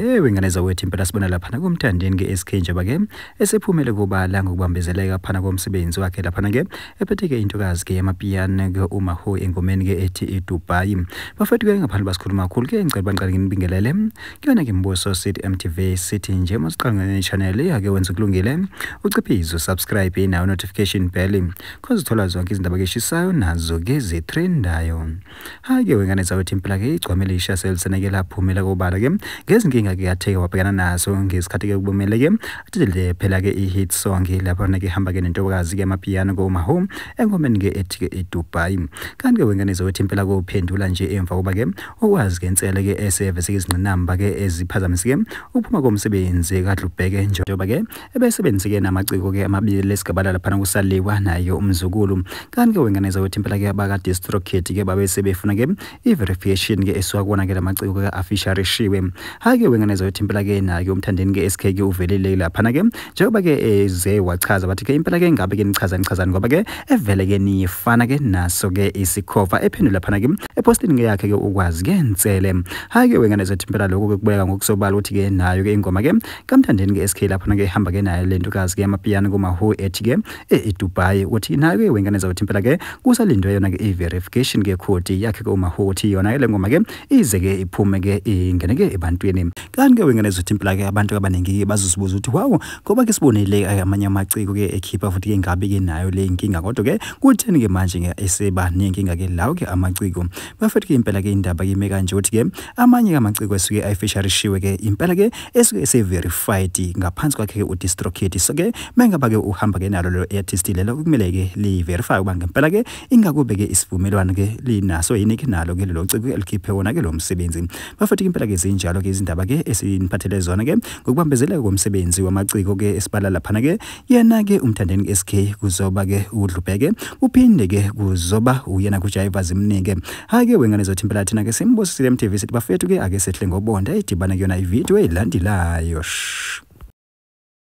Ewe ngane zawethu impela sibona laphana kumthandeni ke SK njengoba ke esephumele kubala ngokubambezeleka phana komsebenzi wakhe laphana ke ephethe ke intokazi ke yamapiano ke uma ho engomeni ke ethi iDubai bafethu ke ngaphandle basikhuluma kakhulu ke ngicela bangiqale nginibingelele kuyona ke mbuso City MTV City nje masiqanga ne channel yake wenza kulungile uciphizo subscribe nayo notification bell cause uthola zonke izindaba ke shisayo nazo ke zitrendayo hayi ke wengane zawethu impela ke igcwamele isha selisene ke laphumela kobala ke ngezinkinga ke yatheke wabhekana nazo ngesikhathi ke kubomele ke athelele phela ke i-hit song lapho ke hamba ke nentokazi ke amapiano ko mahome engomeni ke ethi ke iDubai kanti ke wengane zawethu impela kophendula nje emva koba ke okwazi ke insele ke eseve sekizinqinamba ke eziphazamisike ukuphuma komsebenzi kadlubheke njengoba ke ebesebenzike namaciko-ke amabili esigabala laphana kusaliwa naye umzukulu kanti-ke wenganeza wethi impela-ke abakadistrokit-ke babesebefuna-ke i-verification-ke esuka kuwona-ke la maciko-ke afisharishiwe hhayi-ke wenganeza wethi impela-ke naye umthandeni-ke esikhe-ke uvelile laphana-ke njengoba-ke eze wachaza bathi-ke impela-ke ngabe-ke nichaza nichazani ngoba-ke evele-ke niyifana-ke naso-ke isikhova ephendula phana-ke epostini-ke yakhe-ke ukwazi-ke nsele hhayi-ke wenganeza wethi impela lokho-ke kubeka ngokusobala ukuthi-ke nayo-ke ingoma-ke kamthandeni ke SK lapho nake ehamba ke naye lento kazi ke amapiyano kuma who ethi ke e, e Dubai ukuthi nayo ke wengane zawuthi impela ke kusalindwe yona ke i verification ke code yakhe ke uma who uthi yona ke lengoma ke ize ke iphume ke ingene ke ebantwini kanti ke wengane zothi impela ke abantu abaningi ke bazozibuza ukuthi wow ngoba ke sibonile ke amanye amaciko ke ekhipha futhi ke ngabe ke nayo le inkinga kodwa ke kutheni ke manje ke eseba nenkinga ke lawo ke amaciko bafethu ke impela ke indaba ke ime kanje ukuthi ke amanye amaciko esuke ayifisharishiwe ke impela ke esuke severified ngaphansi kwakhe ke udistrokit so ke mengaba ke uhamba ke nalo lelo artist lelo kumele ke liverify uba ngempela ke ingakube ke isivumelwano ke linaso yini ke nalo ke lelo ciko elikhiphe wona ke lo msebenzi bafethu impela ke zinjalo ke izindaba ke esiniphathele zona ke ngokubambezeleka komsebenzi wamaciko ke esibala laphana ke yena ke umthandeni SK kuzoba ke udlubheke uphinde ke kuzoba uyena kujayiva zimnike hake wengane zothi impela thina ke simbosisile MTV sithi bafethu ke ake sehle ngobonda edibana kuyona ivideo elandelayo shh